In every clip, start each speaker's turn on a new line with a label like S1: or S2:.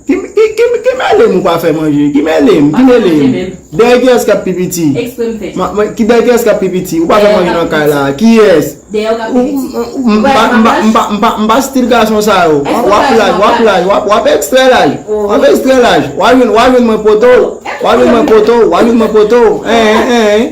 S1: Ki mele m ou pa fe manje. Ki mele m. Ki mele m. Deye kiyes kap pi piti. Expre m fe. Deye kiyes kap pi piti. Ou pa fe manje nan kay la. Kiyes. Deye ou kap pi piti. M pa stil gason sa yo. Wap laj wap laj. Wap extre laj. Wap extre laj. Wap jwen mwen poto. Wap jwen mwen poto. Wap jwen mwen poto. Eeh eeh.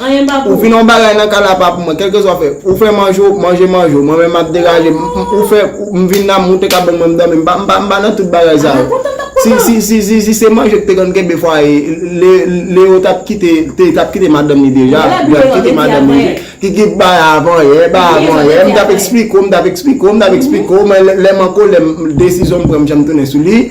S1: Anyen pa pou ou. Ou fin yon bagay nan kay la pa pou mwen. Kelke swa ou fè. Ou fè manje ou, manje manje ou. Mwen menm map degaje m. Ou fè, m vin nan, m moute kabon mwen m domi. M pa, m pa nan tout bagay sa yo. A mwen kontan, map kontan. Si, si, si, si se manje ki te konn kenbe fwaye, Le, Leo tap kite, te, tap kite madanm li deja. Lè lap kite madanm li. Li tap kite madanm li deja. Ki ki t bay avan yè, bay avan yè. M tap esplike ou, m tap esplike ou, m tap esplike ou. Men lè m an kolè, desizyon m pran m janm tounen sou li.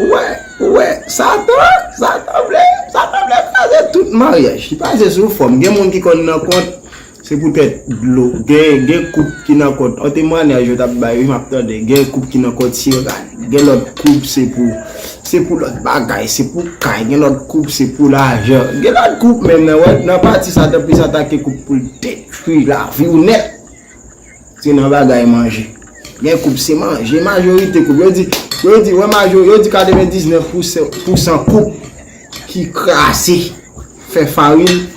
S1: Ou wè, ou wè, satan, satan vle, satan vle kraze tout maryaj. Li pase sou fòm, gen moun ki konn nan kont, se poutèt dlo, gen, gen koup ki nan kont, an temwanyaj yo tap bay wi map tande, gen koup ki nan kont se rad, gen lòt koup se pou, se pou lòt bagay, se pou kay, gen lòt koup se pou lajan, gen lòt koup menm nan wè, nan pati satan plis atake koup poul detwi laviw nèt. Se nan bagay manje. Gen koup se manje. Majorite koup. Yo di, yo di, wè majori, yo di 99 pou san koup ki krasi fè farin.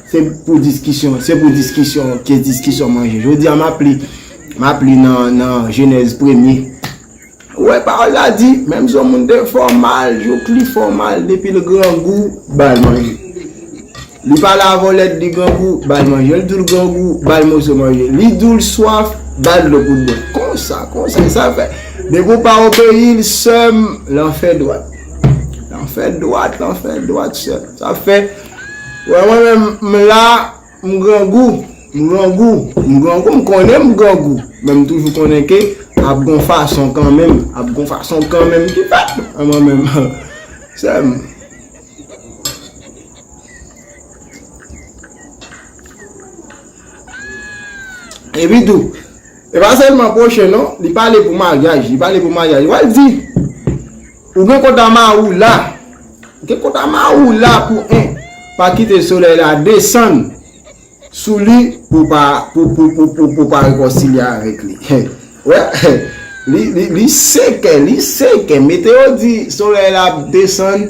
S1: Se pou diskisyon, se pou diskisyon, ke diskisyon manje. Jodi a map li, map li nan, nan jenèz premye. Ou wè pawòl la di, menm si yon moun te fè w mal, jouk li fè w mal, depi l grangou, ba l manje. Li pale avè w lè li grangou, ba l manje. Lè l di w li grangou, ba l moso manje. Li di w li swaf, ba l dlo pou l bwè. Konsa, konsa, e sa l fè. Depi w pa obeyi l, sè m, lanfè dwat. Lanfè dwat, lanfè dwat, sè m. Sa fè, wè mwen menm, m la. M grangou, m grangou, m grangou, m konnen m grangou, men m toujou konnen ke ap gon fason kanmenm, ap gon fason kanmenm ki fèt nan mwen menm sè m. E pi tou, e pa sèlman pwochen non, li pale pou maryaj, li pale pou maryaj, wè l di. Ou gen kont a ma ou la. Ou gen kont a ma ou la pou 1. Pa kite solèy la desann sou li pou pa pou pou pou pou pou pa rekonsilye avèk li. Wè li li li seke li seke meteo di solèy la ap desann.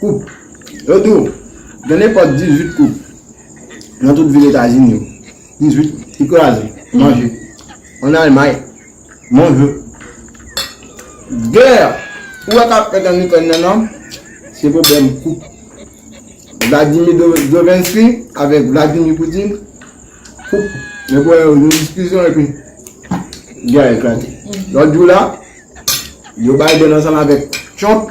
S1: Koup. Yo di w, gen nenpòt 18 koup nan tout vil Etazini yo. 18 ki kraze, manje. An Almay, manje. Gè ou wè k ap fèt an Ikrèn nan nan, se pwoblèm koup. Vladimi Zovensky avèk Vladimi Poutin, koup. Yo pran yon diskisyon epi gè a eklate. Lòt jou la, Joe Biden ansanm avèk Trump.